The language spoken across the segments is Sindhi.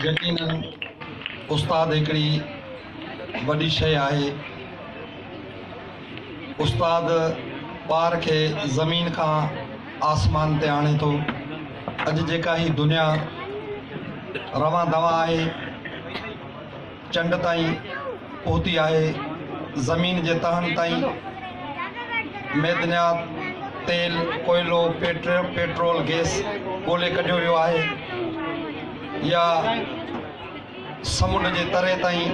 يقينن استاد هڪڙي وڏي شيء آهي. استاد ٻار کي زمين کان آسمان تي آڻي ٿو. اڄ جيڪا هي دنيا روان دوان آهي. چنڊ تائين پهتي آهي، زمين جي تهن تائين معدنيات، تيل، ڪوئلو، پيٽرول، گيس ڳولي ڪڍيو ويو آهي يا سمنڊ جي تري تائين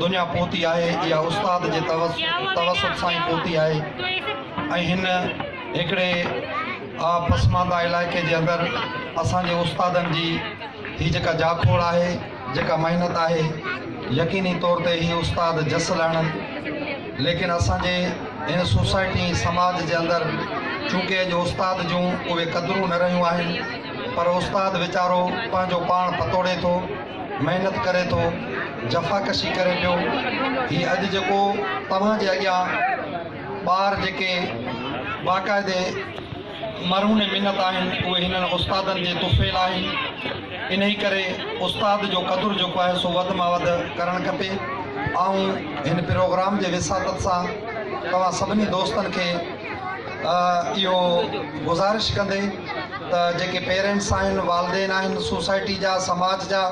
دنيا پهتي آهي يا استاد جي توسط سان ئي پهتي آهي ۽ هن هڪڙي آ پسمانده علائقي جي اندر اسان جي استادن جي هي جيڪا جاکوڙ آهي، جيڪا محنت آهي يقيني طور تي هي استاد جس لهڻن ليڪن اسان جي هن سوسائٽي ۽ سماج جي اندر چونڪه اڄ استاد جون اهي قدرون نه رهيون آهن پر استاد ويچارو پنهنجو پاڻ پتوڙي ٿو محنت ڪري ٿو جفاڪشي ڪري پيو هي اڄ جيڪو توهان جي اڳيان ٻار جيڪي باقاعدي مرهون ۽ منت آهن، اهي هنن استادن جي طفيل آهن، انهي ڪري استاد جو قدر جيڪو آهي سو وڌ مان وڌ ڪرڻ کپي. آئون هن پروگرام جي وساطت سان توهان سڀني دوستن کي اهو گذارش ڪندي ته جيڪي پيرينٽس آهن، والدين آهن، سوسائٽي جا، سماج جا،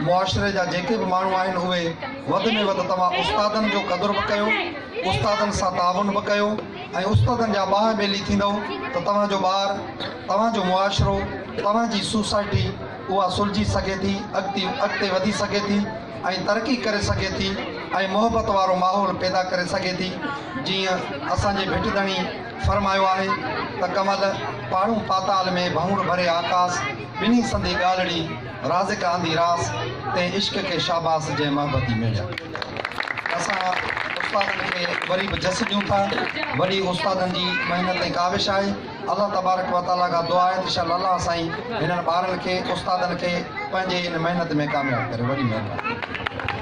معاشري جا جيڪي به ماڻهو آهن اهي وڌ ۾ وڌ توهان استادن جو قدر به ڪيو، استادن سان تعاون به ڪيو. ۽ استادن جا ٻانهن ٻيلي ٿيندئو ته توهان جو ٻار، توهان جو معاشرو، توهان جي سوسائٽي اها سلجهي سگهي ٿي، اڳتي اڳتي وڌي سگهي ٿي ۽ ترقي ڪري سگهي ٿي ۽ محبت وارو ماحول پيدا ڪري سگهي ٿي جيئن اسان جي ڀٽ ڌڻي فرمايو آهي ته ڪمل پاڙون پاتال ۾ ڀؤڻ ڀري آڪاس ٻنهي سندي ڳالڙي رازق آندي راس تي عشق کي شاباس جنهن محبتي ميڙيا اسان استادن کي وري به جس ڏيون ٿا وڏي استادن جي محنت ۽ ڪاوش آهي الله تبارڪ و تعالي کان دعا آهي ته شال الله سائين هنن ٻارن کي استادن کي پنهنجي ان محنت ۾ ڪامياب ڪري وڏي مهرباني